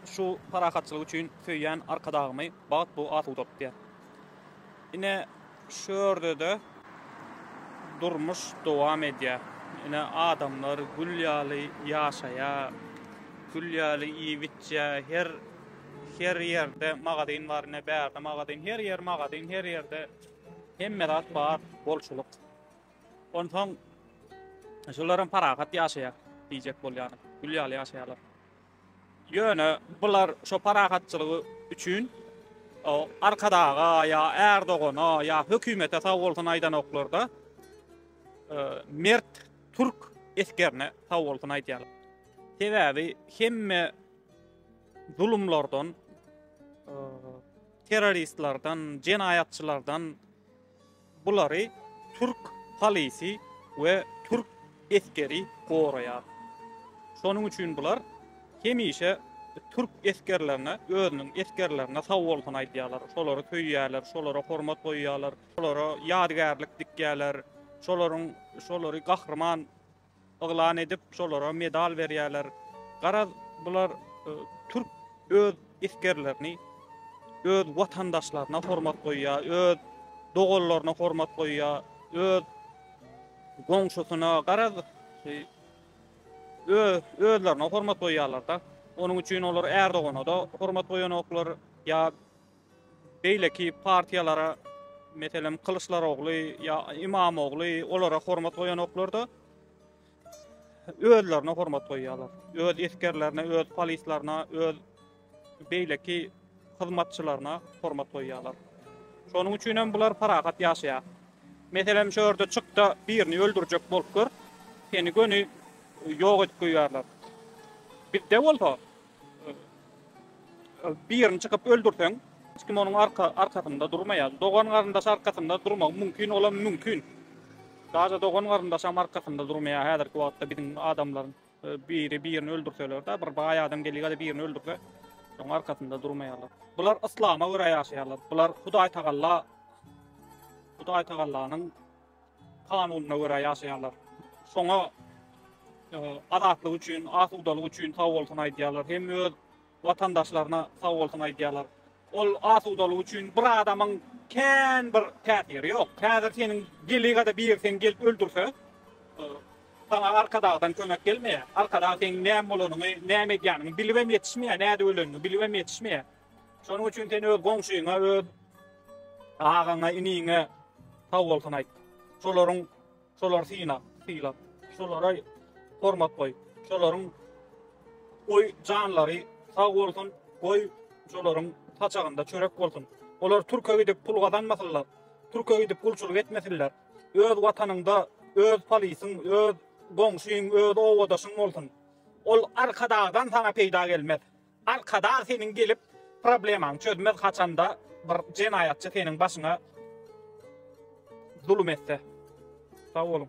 Şu parahatçylyk üçin söýýän Arkadagymy bagt bu at ugrupdyr. Ine, şu ýerde-de durmuş dowam edýär. Ine, adamlar gül ýaly ýaşaýar, gül ýaly iýip-içýär. Her, her ýerde magazin bar, ine, bärde magazin, her ýer magazin, her ýerde hemme zat bar, bolçulyk. Onsoň, şular hem parahat ýaşaýar diýjek bolýaryn. Gül ýaly ýaşaýarlar. Ýöne bular şo parahatçylygy üçin Arkadaga ýa Ärdogana ýa hökümete sag bolsun aýdanoklar-da, mert türk esgerine sag bolsun aýdýarlar. Sebäbi hemme zulumlardan, terroristlerden, jenaýatçylardan, Bulary türk polisy we türk esgeri goraýar. Şonuň üçin bular hemişe türk esgerlerine, özüniň esgerlerine sagbolsun aýdýarlar, şolary söýýärler, şolara hormat goýýarlar, şolara ýadygärlik dikýärler, şolaryň şolary gahryman yglan edip, şolara medal berýärler. Garaz, bular türk öz esgerlerini, öz watandaşlaryna hormat goýýar, öz doganlaryna hormat goýýar, öz goňşusyna, garaz, özlerine hormat goýýarlar-da. Onuň üçin olar Erdogana-da hormat goýanoklar, ýa Beýleki partiýalara, meselem, Kylyçdarogly ýa Imamogly olara hormat goýanoklar-da, özlerine hormat goýýarlar. Öz esgerlerine, öz polislaryna, öz beýleki hyzmatçylaryna hormat goýýarlar. Şonuň üçin hem bular parahat ýaşaýar. Meselem, şu ýerde çykda birini öldürjek bolup gör, seni göni ýok edip goýýarlar. Bizde bolsa, Birini çykyp öldürseň, hiç kim onuň arkasynda durmaýar. Dogan-garyndaş arkasynda durmagy mümkin, olam mümkin. Daže dogan-garyndaşam arkasynda durmaýar häzirki wagtda biziň adamlaryň. Biri birini öldürseler-de, bir baý adam gelýär-de birini öldürse, onuň arkasynda durmaýarlar. Bular yslama görä ýaşaýarlar. Bular Hudaýtagalla Hudaýtagallanyň kanunyna görä ýaşaýarlar. Şoňa azatlyk üçin, asudalyk üçin sag bolsun aýdýarlar. Hem öz watandaşlaryna sag bolsun aýdýarlar. Ol asudalyk üçin bir adamyň kän bir täsiri ýok. Häzir seniň delegada biri seni gelip öldürse, saňa arkadagdan kömek gelmeýär. Arkadag seniň näme bolanyňy, näme edýäniňi bilibem ýetişmeýär, näde öleniňi bilibem ýetişmeýär. Şonuň üçin sen öz goňşyňa, öz agaňa, iniňe sag bolsun aýt. Şolaryň şolary syna, syla. Şolara hormat goý. Şolaryň goý janlary sag bolsun, goý şolaryň saçagynda çörek bolsun. Olar Türkiýe gidip pul gazanmasynlar. Türkiýe gidip gulçulyk etmesinler. Öz watanyňda öz polisyň, öz goňşyň, öz obadaşyň bolsun. Ol arkadagdan sana peýda gelmez. Arkadag seniň gelip problemaňy çözmez haçanda bir jenaýatçy seniň başyňa zulum etse. Sag boluň.